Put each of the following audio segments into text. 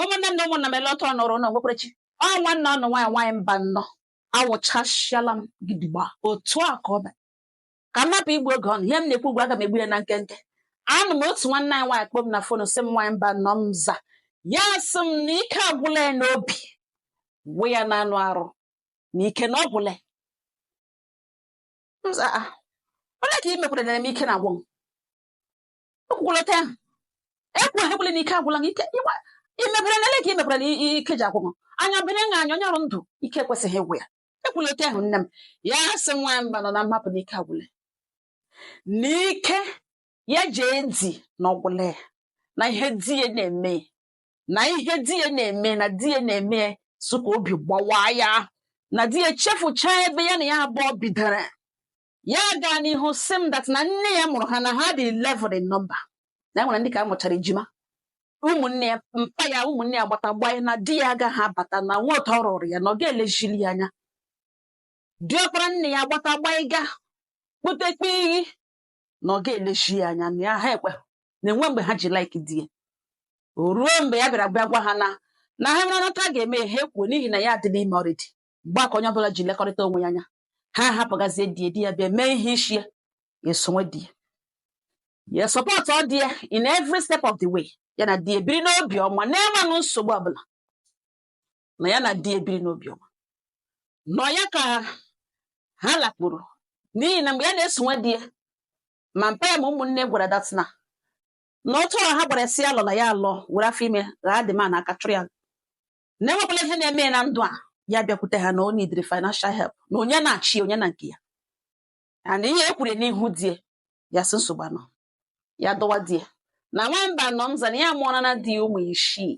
ụmụnne m na ụmụnna m ele ọtọ nọrọ na nwekwerechi ọ nwanne ụnụ nwaanyị nwaanyị Mbanọ awụchasịala m gidigba otu a ka ọ bụ ka m hapụ igbu oge ụnụ ihe m na-ekwu ugbu a aga m egbu ya na nkenke anọ m otu nwanne anyị nwaanyị kpọọ m na fon sị m nwaanyị Mbanọ m za ya sị m na ike agwụla ya n'obi gwụ ya na anụ arụ na ike na ọ gwụla ya. M za, "Ah, olee ka i mekwara na m ike na-agwụ m ekwukwala otu ahụ ekwughị ekwule na ike agwụla gị ike ịgba- imebere na ele ka imebere na i- i- ike ji agwụ gị anya bere na anya onye nọrọ ndụ ike ekwesịghị ịgwụ ya ekwula otu ahụ nne m ya sị nwaanyị Mbanọ na m hapụ na ike agwụla ya. na ike ya ije di na ọ gwụla ya na ihe di ya na-eme ya, na ihe di ya na-eme na di ya na-eme ya so ka obi gbawaa ya na di ya chefuchaa ebe ya na ya abụọ bidoro ya gaa n'ihu sị m that na nne ya mụrụ ha na ha dị 11 in number na e nwere ndị ke a mụchara ejima ụmụnne ya mpa ya ụmụnne ya gbata gbanye na di ya agaghị abata na nwa ụtọ ọ rụrụ ya na ọ ga-elezili ya anya diọkpara nne ya gbata gbanye ga kpotekpe iyi na ọ ga-elezi ya anya na ya ha ekwe na enwe mgbe ha ji like di ya o ruo mgbe ya bịara bịa gwa ha na na ha mara nata ga-eme ha ekwuo n'ihi na ya adịla ime already mgbe a ka onye ọbụla ji lekọrịta onwe ya anya ha ahapụgazie di di ya bịa mee ihe isi ya esowe di ya supportụọ di ya in every step of the way ya na di ebiri n'obi ọma na-enweghị nsogbu ọbụla na ya na di ebiri n'obi ọma nọ ya ka ha lakpuru n'ihi na mgbe ya na-esowe di ya ma mpa ya ma ụmụnne gwara ya that na na otu ọrụ ha gwara sị ya alọla ya alọ were afọ ime ghara dị ma na aka chụrụ ya na enwekwala ihe na-eme ya na ndụ ya ya bịakwute ha na o needịrị financial help na onye na chi ya onye na nke ya and ihe e kwuru n'ihu di ya ya sị nsogbu anọ ya dọwa di ya na nwaanyị Mbanọ m za na ya mụọrala di ya ụmụ isii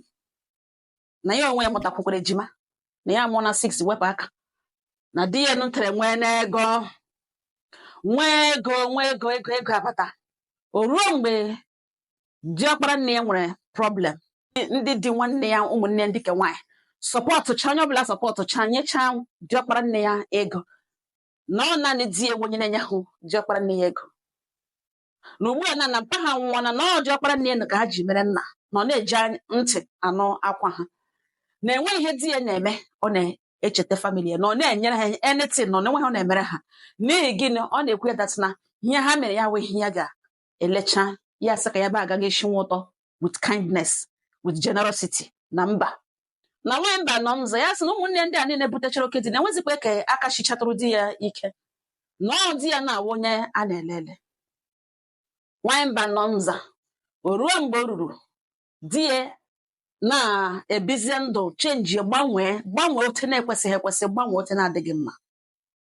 na ya onwe ya mụtakwukwara ejima na ya mụọla six wepụ aka na di ya nụtere nwee n'ego nwee ego nwee ego ego ego abata o ruo mgbe diọkpara nne ya nwere problem ndị di nwanne ya ụmụnne ndị ke nwaanyị sọpọtụcha onye ọbụla sọpọtụcha nyechaa diọkpara nne ya ego na ọ naanị di ya wụ onye na-enyehụ diọkpara nne ya ego na ugbu a na na mpa ha nwụọna na ọ diọkpara nne ya ka ha ji mere nna na ọ na-eji ntị anụ akwa ha na enweghị ihe di ya na-eme ọ na-echeta family ya na ọ na-enyere ha anything na ọ na-enweghị ọ na-emere ha n'ihi gịnị ọ na-ekwu ya that na ihe ha mere ya wee ihe ya ga elecha ya sị ka ya ba agaghị esi nwa ụtọ with kindness with generosity na mba na nwanyị mba nọ mzọ ya sị na ụmụnne ndị a niile butechara oke di na enwezikwa ka aka shichatụrụ di ya ike na ọ di ya na-awụ onye a na-ele ele nwanyị mba nọ mza o ruo mgbe o ruru di ya na-ebizie ndụ chenji gbanwee gbanwee otu na-ekwesịghị ekwesị gbanwee otu na-adịghị mma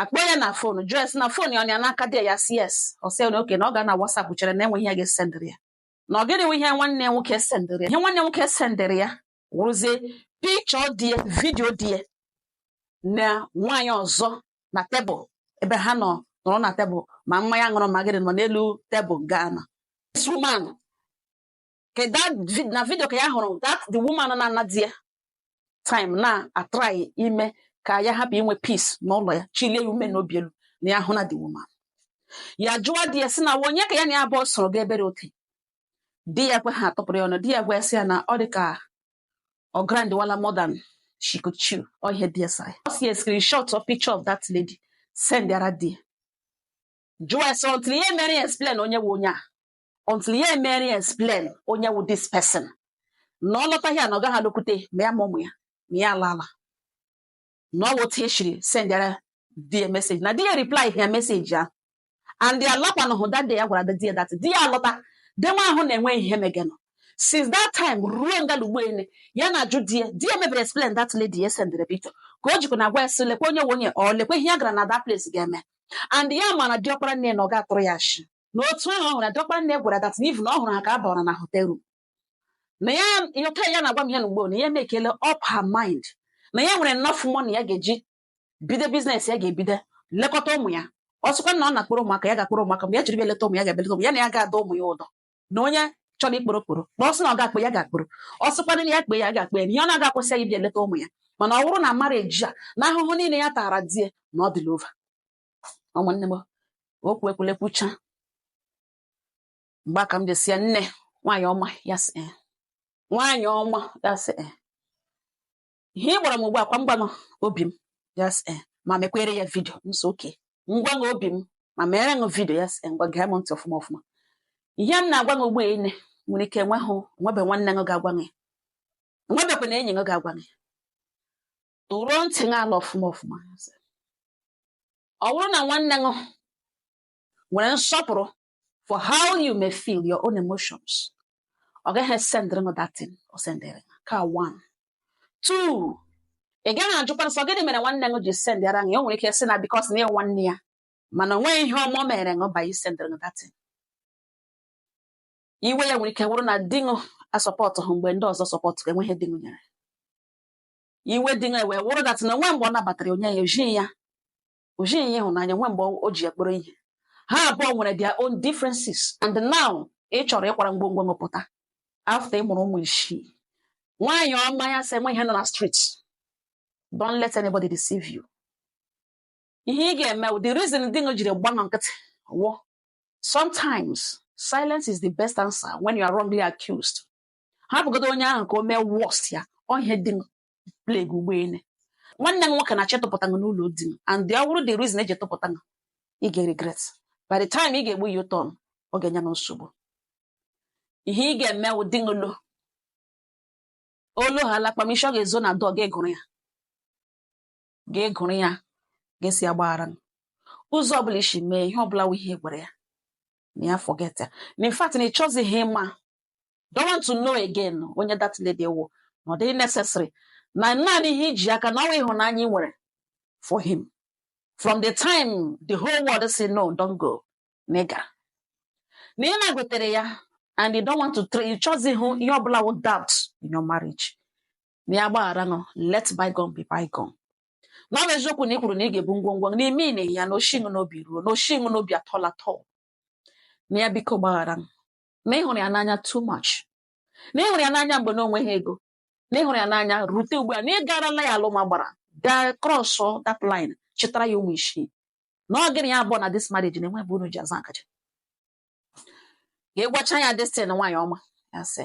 akpọ ya na fon jụọ ya sị na fon ya ọ ya n'aka dị ya sị yes ọ sị ya na okay na ọ gaa na WhatsApp chere na e nwe ihe ya ga-esendịrị ya na ọ gịnị nwe ihe nwanne ya nwoke sendịrị ya ihe nwanne ya nwoke sendịrị ya wụrụzie picture di ya vidio di ya na nwaanyị ọzọ na tebụl ebe ha nọ nọrọ na tebụl ma mmanya a ṅụrụ ma gịnị nọ n'elu tebụl gaa na this woman ka that vid- na vidio ka ya hụrụ that the woman na-ana di ya time na-atrai ime ka ya hapụ inwe peace n'ụlọ ya chilie ya ume n'obi elu na ya hụ na the woman ya jụọ di ya sị na onye ka ya na ya abụọ soro ga ebere oke di ya ekwehụ atụpụrụ ya ọnụ di ya gwa sị ya na ọ dị ka ọ grandwala more than she could chew ọ ihe di ya sa ya ọ si ya screenshot or picture of that lady sendara di ya jụọ ya sị until ya emere ya explain onye wụ onye a until ya emere ya explain onye wụ this person na ọ lọta ya na ọ gaghị alọkwute ma ya ma ụmụ ya ma ya alaala na ọ wụ otu e shiri sendara di ya message na di ya reply ya message ahụ and ya lakwanụhụ that day ya gwara di ya that di ya alọta day nwa ahụ na-enwe ihe megenụ since that time ruo ngalugbo ene ya na-ajụ di ya di ya mebere explain that lady ya sendere picture ka o jikwa na-agwa ya sị lekwa onye wụ onye ọ lekwa ihe ya gara na that place ga-eme and ya ma na diọkpara nne na ọ ga-atụrụ ya ashị na otu ahụ ọ hụrụ ya diọkpara nne gwara that even na ọ hụrụ ha ka ha bara na hotel room na ya ya ka ya na-agwa m ya na ugbo na ya mekele up her mind na ya nwere enough money ya ga-eji bido business ya ga-ebido lekọta ụmụ ya ọ sịkwa na ọ na-akpọrọ ụmụaka ya ga-akpọrọ ụmụaka mgbe ya jiri bịa leta ụmụ ya ga-abịa leta ụmụ ya na ya ga-adọ ụmụ ya ụdọ na onye chọrọ ịkpọrọ kpọrọ na ọ sị na ọ ga-akpọ ya ga-akpọrọ ọ sịkwa na ya kpe ya ga-akpe ya na ihe ọ na-aga akwụsị ya ịbịa leta ụmụ ya mana ọ bụrụ na marriage a na ahụhụ niile ya tara die na ọ dịla over ụmụnne m okwu ekwule kwucha mgbe a ka m ji sị ya nne nwaanyị ọma ya sị eh. nwaanyị ọma ya sị eh. ihe ị gwara m ugbu a kwa m gwa ṅụ obi m ya sị eh. ma mekwere ya vidio m sị okay m gwa ṅụ obi m ma mere ṅụ vidio ya sị ngwa gee m ntị ọfụma ọfụma ihe m na-agwa gị ugbu a i nwere ike enweghị nwebe nwanne ṅụ ga-agwa gị enwebekwa na enyi ṅụ ga-agwa gị tụrụọ ntị gị ala ọfụma ọfụma ọ bụrụ na nwanne gị nwere nsọpụrụ for how you may feel your own emotions ọ gaghị esendịrị gị that thing o sendịrị gị ka one two ị gaghị ajụkwanụ sị ọ gịnị mere nwanne gị ji sendịara gị o nwere ike sị na because na ị wụ nwanne ya mana o nweghị ihe ọma o mere gị by isendịrị gị that thing iwe ya nwere ike wụrụ na di gị asọpọtụhụ mgbe ndị ọzọ sọpọtụ gị enweghị di gị nyere iwe di ya wee wụrụ that na enwe mgbe ọ nabatara onye ya o jighị ya o jighị ya ịhụnanya enwe mgbe o ji ya kpọrọ ihe ha abụọ nwere their own differences and now ị chọrọ ịkwara ngwongwo ṅụ pụta after ị mụrụ ụmụ isii nwaanyị ọma ya sị enwe ihe nọ na street don't let anybody deceive you ihe ị ga-eme the reason di gị jiri gba nkịtị wụ sometimes silence is the best answer when you are wrongly accused hapụgodo onye ahụ ka o mee worst ya ọ ihe di ṅụ pleg ụgbọelu nwanne ṅụ nwoke na-achọ ịtụpụta gị n'ụlọ di ṅụ and ọ wụrụ the reason e ji tụpụta gị ị ga-regret by the time ị ga-egbu ya ụtọ ọ ga-enye m nsogbu ihe ị ga-eme wụ di ṅụ lọọ olu ha alakpamisi ọ ga-ezo na dọg ịgụrụ ya ga-egụrụ ya ga-esi agbaghara ṅụ ụzọ ọbụla i si mee ihe ọbụla wụ ihe gwara ya na ya forget ya na in fact na ị chọzighị ịma don't want to know again onye that lady wụ na ọ dịghị necessary na naanị ihe i ji aka na ọ wụ ịhụnanya ị nwere for him from the time the whole world say no don't go na ị gara na ị na-agụtere ya and you don't want to tra- ị chọzighị ihe ọbụla wụ doubt in your marriage na ya gbaghara ṅụ let bygone be bygone na ọ bụ eziokwu na ị kwuru na ị ga-ebu ngwongwo gị, n'ime iwe ya na o shi ṅụ n'obi ruo na o shi ṅụ n'obi at all at all na ya biko gbaghara ṅụ na ị hụrụ ya n'anya too much na ị hụrụ ya n'anya mgbe na o nweghị ego na ị hụrụ ya n'anya rute ugbu a na ị garala ya alụma gbara gaa cross that line chịtara ya ụmụ isii na ọ gị na ya abụọ na this marriage na enwe ebe unu ji aza akaja ka ị gwacha ya destin nwaanyị ọma ya sị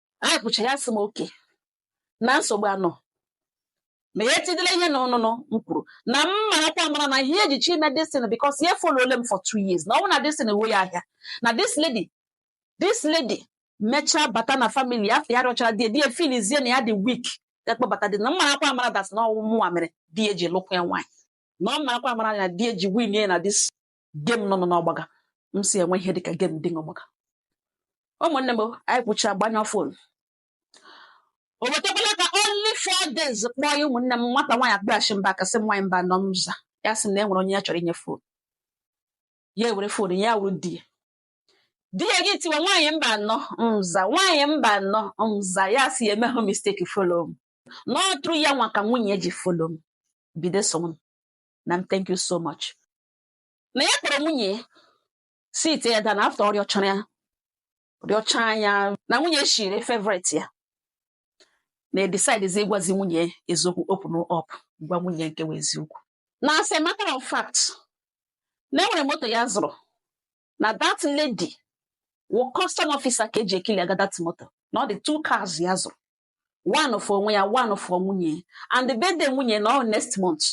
anyị kwucha ya sị m okay na nsogbu anọ ma ya tigide ihe na ọnụnụ m kwuru na m marakwa amara na ihe e ji chọọ ime destin because ya folole m for two years na ọ bụ na destin ewe ya ahịa na this lady this lady mechaa bata na family ya after ya rịọchara di ya filizie na ya dị weak ya kpọbata di na m marakwa amara that na ọ wụ mụnwa mere di ya ji lụkwa ya nwaanyị na m marakwa amara na di ya ji win ya na this game nọ n'ọgbaga m sị enwe ihe dịka game dị n'ọgbaga ụmụnne m anyị kwucha gbanyụọ phone o wetakwala ka only four days kpọọ ya ụmụnne m nwata nwaanyị akpịachi m back sị nwaanyị mbano m za ya sị na e nwere onye ya chọrọ inye phone ya ewere phone ya wụrụ di ya di ya gị tiwa nwaanyị mbano m za nwaanyị mbano m za ya sị ya emehụ mistake follow m na ọ through ya nwa ka nwunye ji follow m bido so m na m thank you so much na ya kpọrọ nwunye ya sit ya down na after ọ rịọchara ya rịọcha ya na nwunye shiri favourite ya na ya decidezi ịgwazi nwunye eziokwu open up gwa nwunye nke wụ eziokwu na as a matter of fact na enwere moto ya zụrụ na that lady wụ custom officer ka eji eclearga that moto na ọ dị two cars ya zụrụ one for onwe ya one for nwunye and the birthday nwunye na ọ next month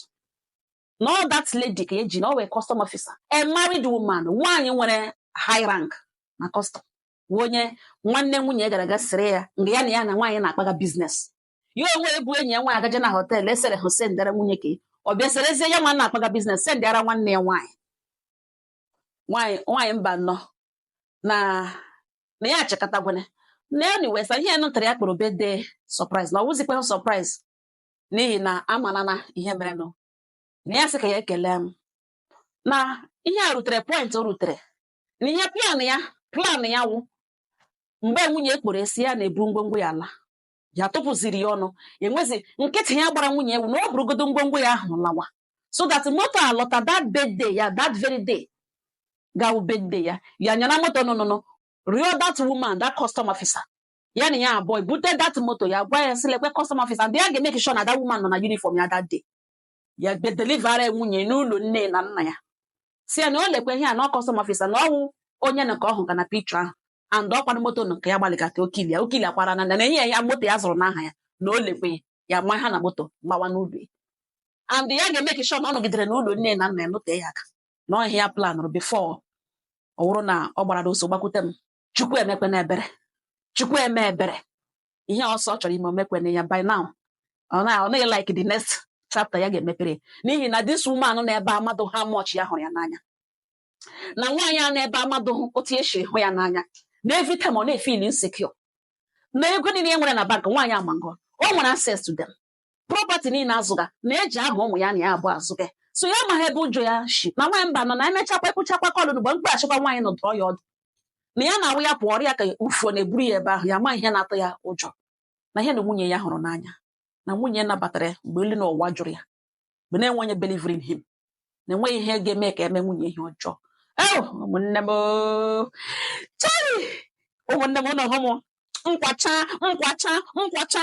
na ọ that lady ka eji na ọ wụ custom officer a married woman nwaanyị nwere high rank na custom wụ onye nwanne nwunye gara ga sere ya nga ya na ya na nwaanyị na-akpaga business ya onwe ebu enyi ya nwaanyị agaje na hotel eserehụ sendara nwunye ka ọ bịa serezie ya nwa na-akpaga business sendara nwanne ya nwaanyị nwaanyị nwaanyị mbano na na ya achịkọtagwana na anyway sha ihe nụ tara ya kpọrọ birthday surprise na ọ wụzikwahụ surprise n'ihi na amana na ihe mere nụ na ya sị ka ya ekele m na ihe a rutere point o rutere na ihe plan ya plan ya wụ mgbe nwunye kpọrọ esi ya na-ebu ngwongwo ya ala ya tụpụziri ya ọnụ enwezi nkịtị ya gbara nwunye wụ na ọ burugodo ngwongwo ya ahụ lawa so that moto alọta that birthday ya that very day ga-awụ birthday ya ya nyana moto nụnụnụ rịọ that woman that custom officer ya na ya abụọ bute that moto ya gwa ya sị lekwe custom officer and ya ga-emake sure na that woman nọ na uniform ya that day ya bịa delivera nwunye n'ụlọ nne na nna ya sị ya na o lekwa ihe a na ọ custom officer na ọ wụ onye nke ọ hụga na picture ahụ and ọkwanụ moto nụ ka ya gbalịgata ọ clear ya ọ clearakwara na na enye ya ya moto ya zụrụ n'aha ya na o lekwe ya ya ma ha na moto gbawa n'ụlọ ya and ya ga-emake sure na ọ nọgidere n'ụlọ nne na nna ya nọtee ya aka na ọ ihe ya planụrụ before ọ wụrụ na ọ gbara ọsọ gbakwute m chukwu emekwena ebere chukwu eme ebere ihe ọ sị ọ chọrọ ime o mekwena ya by now ọ na like the next chapter ya ga-emepere n'ihi na this woman nọ n'ebe a amadụ how much ya hụrụ ya n'anya na nwaanyị a n'ebe a amadụhụ otu esi hụ ya n'anya na every time ọ na-efeel insecure na ego niile e nwere na bank nwaanyị a ma nga o nwere access to them property niile azụga na-eji aha ụmụ ya na ya abụọ azụga so ya amaghị ebe ụjọ ya shi na nwaanyị mba nọ na emechakwa ekwuchakwa kọlụ mgbe m kpọghachikwa nwaanyị nọ dụọ ya ọdụ na ya na-awụ ya pụọ ọrịa ka ufuo na-eburu ya ebe ahụ ya ma ihe na-atụ ya ụjọ na ihe na nwunye ya hụrụ n'anya na nwunye ya nabatara ya mgbe elu na ụwa jụrụ ya mgbe na-enweghị onye belivuru in him na enweghị ihe ga-eme ka e mee nwunye ihe ọjọọ ee ụmụnne m oo. chai ụmụnne m ụnụ hụ m nkwacha nkwacha nkwacha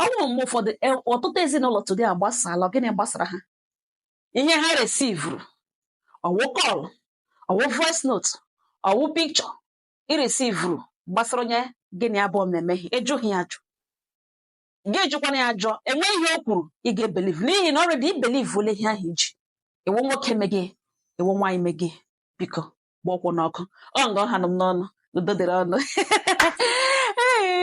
o nwere mgbe ụfọdụ e, ọtụtụ ezinụlọ today agbasala gịnị gbasara ha ihe ha resivuru ọ wụ kọl ọ wụ voice note ọ wụ picture i resivuru gbasara onye gị na ya abụọ na-eme ihe ị jụghị ya ajụ gị jụkwana ya ajụ enweghị ihe o kwuru ị ga-ebeliv n'ihi na already i belivuole ihe ahụ iji ewe nwoke megị ewe nwaanyị megị biko gba ọkwụ n'ọkụ ọ nga ọ ha nọ m n'ọnụ udo dịrị ụnụ